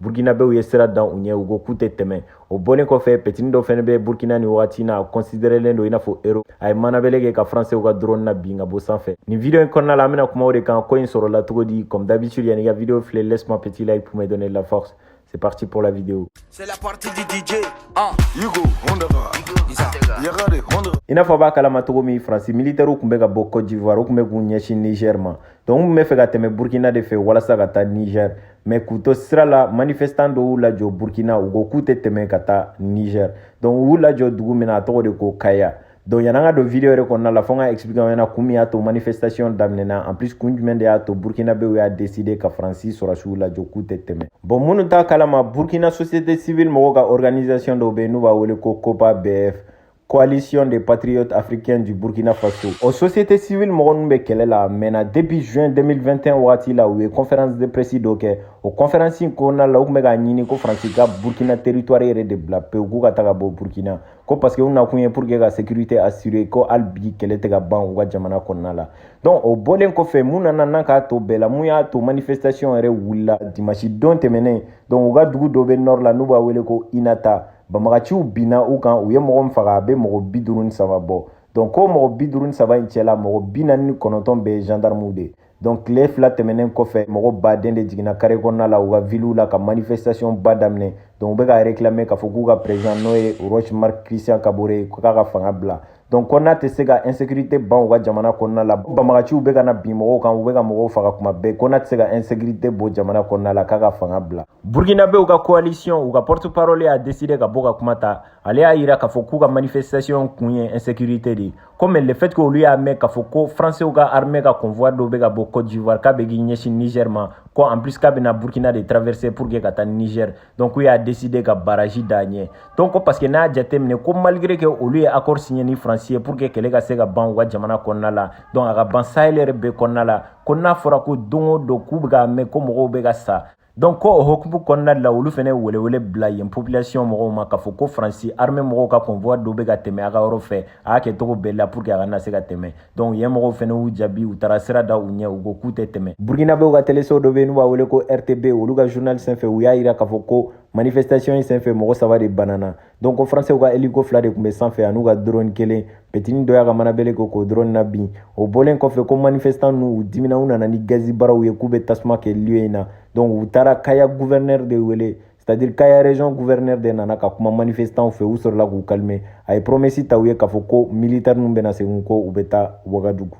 burukinabew ye sira dan u ɲɛ u ko k'u tɛ tɛmɛ o bɔlen kɔfɛ petini dɔ fɛnɛ bɛ burkina ni wagati na a kɔnsiderelen don i n'a fɔ héros a ye manabɛlɛ kɛ ka faransew ka drone nabin ka bɔ sanfɛ nin video in kɔnɔna la an bɛna kuma o de kan ko in sɔrɔla cogo di comme d'habitude yan'i ka video filɛ laisse moi petit like pour me donner de la force c'est parti pour la vidéo c'est la partie du DJ ah Hugo Hondaga Yagare Hondaga i n'a fɔ a b'a kalama cogo min faransi militɛriw tun bɛ ka bɔ cote d'ivoire u tun bɛ k'u ɲɛsin niger ma donc u tun bɛ fɛ ka tɛmɛ burkina de fɛ walasa ka taa niger mais k'u to sira la manifestan dɔw y'u lajɔ burkina u ko k'u tɛ tɛmɛ ka taa niger donc u y'u lajɔ dugu min na a tɔgɔ de ko kaya donc yan'an ka don video yɛrɛ kɔnɔna la fo n k'a expliquer aw ɲɛna kun min y'a to manifestation daminɛna en plus kun jumɛn de y'a to burkinabew y'a décider ka faransi sɔrɔsiw lajɔ k'u tɛ tɛmɛ bon minnu t'a kalama burkina société civile mɔgɔw ka organisation dɔw bɛ yen n'u b'a wele ko copa bf coalition des patriotes africains du Burkina Faso. O société civile mɔgɔ minnu bɛ kɛlɛ la mɛnna depuis juin 2021 wagati la u ye conférence de presse dɔ kɛ o conférence in kɔnɔna la u tun bɛ k'a ɲini ko Faransi ka Burkina territoire yɛrɛ de bila pewu k'u ka taga bɔ Burkina ko parce que u nakun ye pour que ka sécurité assurer ko hali bi kɛlɛ tɛ ka ban u ka jamana kɔnɔna la donc o bɔlen kɔfɛ mun nana n'a k'a to bɛɛ la mun y'a to manifestation yɛrɛ wulila dimanche don tɛmɛnen donc u ka dugu dɔ bɛ nord la n'u b'a wele ko Inata banbagaciw binna u kan u ye mɔgɔ min faga a bɛ mɔgɔ bi duuru ni saba bɔ donc ko mɔgɔ bi duuru ni saba in cɛla mɔgɔ bi naani ni kɔnɔntɔn bɛɛ ye gendarmew de ye donc tile fila tɛmɛnen kɔfɛ mɔgɔ baden de jiginna kare kɔnɔna la u ka viliw la ka manifestation ba daminɛ donc u bɛ ka réclamer k'a fɔ k'u ka président n'o ye Roch Marc Christian Kaboré k'a ka fanga bila donc ko n'a tɛ se ka insécurité ban u ka jamana kɔnɔna la banbagaciw bɛ ka na bin mɔgɔw kan u bɛ ka mɔgɔw faga kuma bɛɛ ko n'a tɛ se ka insécurité bɔ jamana kɔnɔna la k'a ka fanga bila burkinabew ka coalition u ka porte parole y'a décidé ka bɔ ka kuma ta ale y'a yira k'a fɔ k'u ka manifestation kun ye insécurité de ye comme le fait que olu y'a mɛn k'a fɔ ko françaisw ka armée ka convoi dɔw bɛ ka bɔ cote d'ivoire k'a bɛ k'i ɲɛsin niger ma ko en plus k'a bɛna burkina de traverser pour que ka taa niger donc u y'a décider ka baraji d'a ɲɛ donc ko parce que n'a jateminɛ ko malgré que olu ye accord signé ni France ye pour que kɛlɛ ka se ka ban u ka jamana kɔnɔna la donc a ka ban sahel yɛrɛ bɛɛ kɔnɔna la ko n'a fɔra ko don o don k'u bɛ k'a mɛn ko mɔgɔw bɛ ka sa donc ko o hokumu kɔnɔna de la olu fana ye welewele bila yen population mɔgɔw ma k'a fɔ ko faransi armée mɔgɔw ka convoi dɔ bɛ ka tɛmɛ a ka yɔrɔ fɛ a k'a kɛ cogo bɛɛ la pour que a kana se ka tɛmɛ donc yen mɔgɔw fɛnɛ y'u jaabi u taara sira da u ɲɛ u ko k'u tɛ tɛmɛ burukinabew ka teleso dɔ be yen n'u b'a wele ko rtb olu ka journal sen fɛ u y'a yira k'a fɔ ko manifestation in sen fɛ mɔgɔ saba de banana donc ko faransɛw ka eliko fila de tun be san fɛ an'u ka drone kelen petini dɔ y'a ka manabɛlɛ kɛ k'o drone nabin o bɔlen kɔfɛ ko manifestan ninnu u dimina u nana ni gazi baraw ye k'u be tasuma kɛ lieu in na donc u taara kaya gouvernɛr de wele c'est-à-dire kaya region gouverneur de nana ka kuma manifestanw fɛ u sɔrɔla k'u kalime a ye promesi ta u ye k'a fɔ ko militaire ninnu bɛna segin ko u bɛ taa wagadugu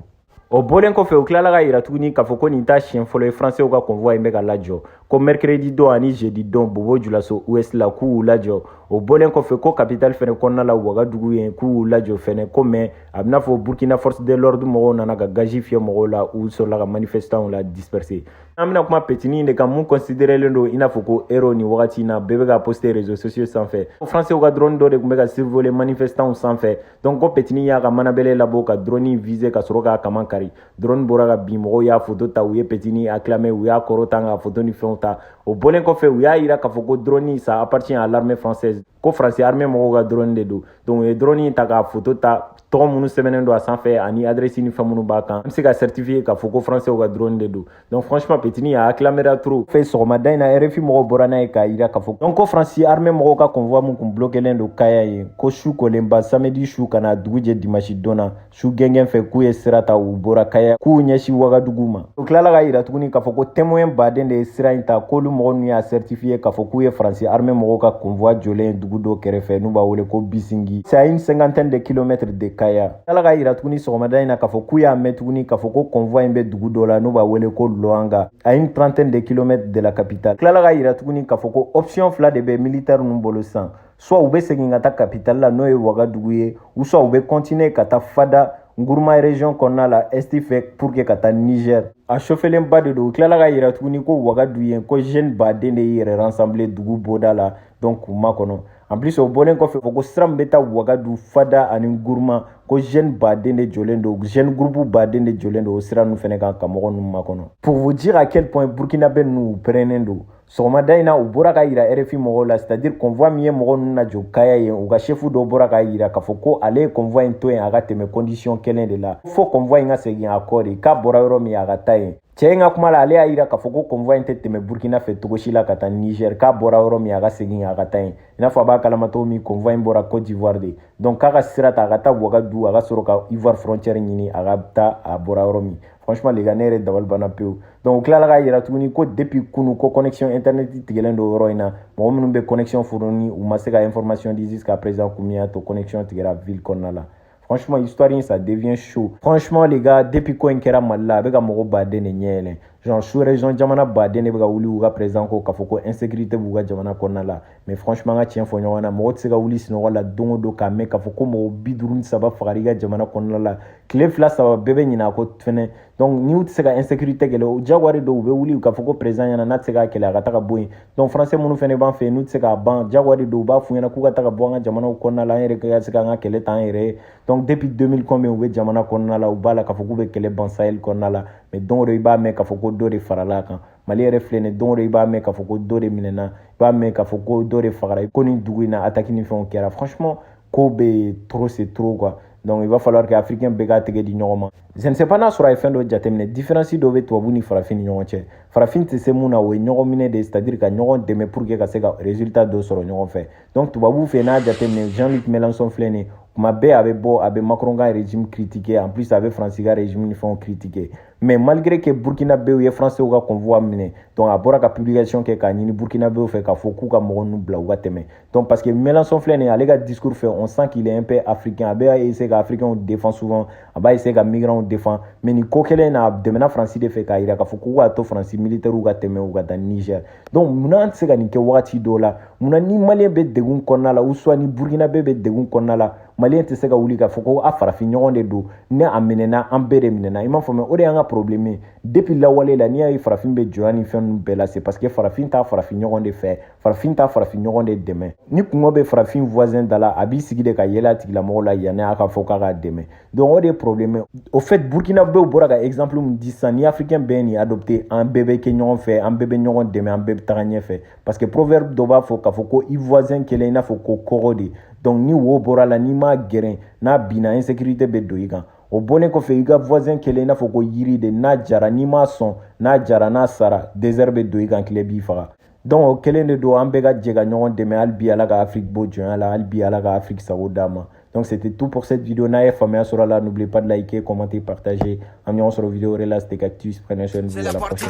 o bɔlen kɔfɛ u tilala k'a yira tuguni k'a fɔ ko nin t'a siɲɛ fɔlɔ ye fransɛw ka convoi in bɛ ka lajɔ ko mercredi don ani jeudi don bobo julaso ouest la k'u y'u lajɔ o bɔlen kɔfɛ ko capitale fɛnɛ kɔnɔna la wagadugu ye k'u y'u lajɔ fɛnɛ ko mais a b'i n'a fɔ burkina force de l'ordre mɔgɔw nana ka gazi fiyɛ mɔgɔw la u sɔrɔla ka manifestanw la disperse an bɛna kuma petini de kan mun considerelen don i n'a fɔ ko héros nin wagati na bɛɛ bɛ k'a poste réseaux sociaux sanfɛ ko françaisw ka drone dɔ de tun bɛ ka survoler manifestants sanfɛ donc ko petini y'a ka manabɛlɛ labɔ ka drone viser ka sɔrɔ k'a kaman kari drone bɔra ka bin mɔgɔw y'a photo ta u ye petini acclamer u y'a kɔrɔta ka photo ni fɛnw ta o bɔlen kɔfɛ u y'a yira k'a fɔ ko drone ça appartient à l'armée française ko français armée mɔgɔw ka drone de don donc u ye drone ta k'a photo ta tɔgɔ minnu sɛbɛnnen don a sanfɛ ani adrɛsi ni fɛn minnu b'a kan an bɛ se ka certifiye k'a fɔ ko françaisw ka drone de don donc franchement petini in a acclamera trop fɛ sɔgɔmada in na rfi mɔgɔw bɔra n'a ye k'a yira k'a fɔ donc ko fransi armée mɔgɔw ka convoi min kun blokelen don kaya yen ko su kolenba samedi su ka na dugu jɛ dimanche don na su gɛngɛn fɛ k'u ye sira ta u bɔra kaya k'u ɲɛsin wagadugu ma u tilala k'a yira tuguni k'a fɔ ko témoin baden de ye sira in ta k'olu mɔgɔ ninnu y'a sɛritifiye k'a fɔ k'u ye faransi arme mɔgɔw ka konvuwa jɔlen ye dugu dɔ kɛrɛfɛ n'u b'a wele ko bisingi c'est à une cinquantaine de kilomètre de kaya tilala k'a yira tuguni sɔgɔmada in na k'a fɔ k'u y'a mɛn tuguni k'a fɔ ko konvuwa in bɛ dugu dɔ la n'u b'a wele ko loanga à une trentaine de kilomètre de la capitale tilala k'a yira tuguni k'a fɔ ko option fila de bɛ militaire ninnu bolo sisan soit u bɛ segin ka taa capitale la n'o ye wagadugu ye ou soit u bɛ continuer ka taa fada nguruma region kɔnɔna la est fɛ pour que ka taa niger a sofelenba de don u tilala k'a yira tuguni ko wagadu yen ko jeune baden de y'u yɛrɛ rassembler dugu bɔda la donc k'u makɔnɔ en plus o bɔlen kɔfɛ fɔ ko sira min bɛ taa wagadu fada ani nguruma ko jeune baden de jɔlen don jeune groupe baden de jɔlen don o sira ninnu fɛnɛ kan ka mɔgɔ ninnu makɔnɔ pour vous dire à quel point burkinabé ninnu u pɛrɛnnen don sɔgɔmada in na u bɔra k'a yira rfi mɔgɔw la c'est-à-dire convoi min ye mɔgɔ ninnu lajɔ kaya yen u ka shefu dɔ bɔra k'a yira k'a fɔ ko ale ye convoi in to yen a ka tɛmɛ condition kelen de la fo convoi in ka segin a kɔ de k'a bɔra yɔrɔ min a ka taa yen cɛ in ka kuma la ale y'a yira k'a fɔ ko convoi in tɛ tɛmɛ burkina fɛ cogo si la ka taa niger k'a bɔra yɔrɔ min a ka segin a ka taa yen i n'a fɔ a b'a kalama cogo min convoi in bɔra côte d'ivoire de donc k'a ka sira ta a ka taa wagadu a ka sɔrɔ ka ivoire frontière ɲini a ka taa a bɔra yɔrɔ min franchement les gars ne yɛrɛ dabali banna pewu donc u tilala k'a yira tuguni ko depuis kunu ko connexion internet tigɛlen don yɔrɔ in na mɔgɔ minnu bɛ connexion fourni u ma se ka information di jusqu'à présent kun min y'a to connexion tigɛra ville kɔnɔna la franchement histoire in ça devient chaud franchement les gars depuis ko in kɛra mali la a bɛ ka mɔgɔ baden de ɲɛ yɛlɛn genre sous-région jamana baden de bɛ ka wuli u ka président kɔ k'a fɔ ko insécurité b'u ka jamana kɔnɔna la mais franchement an ka tiɲɛ fɔ ɲɔgɔn na mɔgɔ tɛ se ka wuli sinɔgɔ la don o don k'a mɛn k'a fɔ ko mɔgɔ bi duuru ni saba fagara i ka jamana kɔnɔna la tile fila saba bɛɛ bɛ ɲinɛ a ko fɛnɛ donc n'u tɛ se ka insécurité kɛlɛ o diyagoya de don u bɛ wuli k'a fɔ ko président ɲɛna n'a tɛ se k'a kɛlɛ a ka taga bɔ yen donc français minnu fɛnɛ b'an fɛ yen n'u tɛ se k'a ban diyagoya de don u b'a f'u ɲɛna k'u ka taga bɔ an ka jamanaw kɔnɔna la an yɛrɛ ka se k'an ka kɛlɛ ta an yɛrɛ ye donc depuis 2000 combien u bɛ jamana kɔnɔna la u b'a la k'a fɔ k'u bɛ kɛlɛ ban sahel kɔnɔna la mais don o don i b'a mɛn k'a fɔ ko dɔ de farala a kan mali yɛrɛ filɛ nin don o don i b'a mɛn k'a fɔ ko dɔ de minɛna i b'a mɛn k'a fɔ ko dɔ de fagara ko nin dugu in na ataki ni fɛnw kɛra franchement ko bɛ yen trop c'est trop quoi donc il va falloir que africain bɛɛ k'a tɛgɛ di ɲɔgɔn ma je ne sais pas n'a sɔrɔ a ye fɛn dɔ jateminɛ différence dɔ bɛ tubabu ni farafin ni ɲɔgɔn cɛ farafin tɛ se mun na o ye ɲɔgɔn minɛ de c'est à dire ka ɲɔgɔn dɛmɛ pour que ka se ka résultat dɔ sɔrɔ ɲɔgɔn fɛ donc tubabu fɛ n'a jateminɛ jean luc mélenchon filɛ nin tuma bɛɛ a bɛ bɔ a bɛ macron ka régime critiquer en plus a bɛ faransi ka régime ni fɛnw critiquer mais malgré que burkinabew ye français ka convoi minɛ donc a bɔra ka publication kɛ k'a ɲini burkinabew fɛ k'a fɔ k'u ka mɔgɔ ninnu bila u ka tɛmɛ donc parce que mélenchon filɛ nin ale ka discours fɛ on sent qu'il est un peu africain a bɛ essayer ka africainw défend souvent a b'a essayer ka migrantw défend mais nin ko kelen in na a dɛmɛna faransi de fɛ k'a jira k'a fɔ k'u k'a to faransi militaires ka tɛmɛ u ka taa niger donc munna an tɛ se ka nin kɛ wagati dɔw la munna ni maliyɛn bɛ degun kɔnɔna la ou soit ni burkinabe bɛ degun kɔnɔna la maliyɛn tɛ se ka wuli k'a fɔ ko a farafin ɲɔgɔn de don ni a minɛna an bɛɛ de minɛna i m'a fɔ mɛ o de y'an ka problème ye depuis lawale la n'i y'a ye farafin bɛ jɔnya ni fɛn ninnu bɛɛ la c'est parce que farafin t'a farafin ɲɔgɔn de fɛ farafin t'a farafin ɲɔgɔn de dɛmɛ ni kunko bɛ farafin voisin da la a b'i sigi de ka yɛlɛ a tigilamɔgɔ la yanni a ka fɔ k'a k'a dɛmɛ donc o de ye problème ye au fait burkinabew bɔra ka exemple min di sisan ni africain bɛɛ ye nin adopté an bɛɛ bɛ kɛ ɲɔgɔn fɛ an bɛɛ bɛ ɲɔgɔn dɛmɛ an bɛɛ bɛ taga ɲɛfɛ parce que proverbe dɔ b'a fɔ k'a fɔ ko i voisin kɛlen i n'a fɔ ko kogo de donc ni wo bɔra a la n'i m'a geren n'a binna insécurité bɛ don i kan o bɔlen kɔfɛ i ka voisin kɛlen i n'a fɔ ko yiri de n'a jara n'i m'a sɔn n'a jara n'a sara désert bɛ don i kan tile b'i faga donc o kelen de don an bɛɛ ka jɛ ka ɲɔgɔn dɛmɛ hali bi ala ka afiriki bɔ jɔnya la hali bi ala ka afiriki sago d'a ma donc c'était tout pour cette vidéo n'a ye faamuya sɔrɔ a la n'oubliez pas de liker commenter partager an bɛ ɲɔgɔn sɔrɔ vidéo wɛrɛ la c'était Cactus prenez soin de vous à la prochaine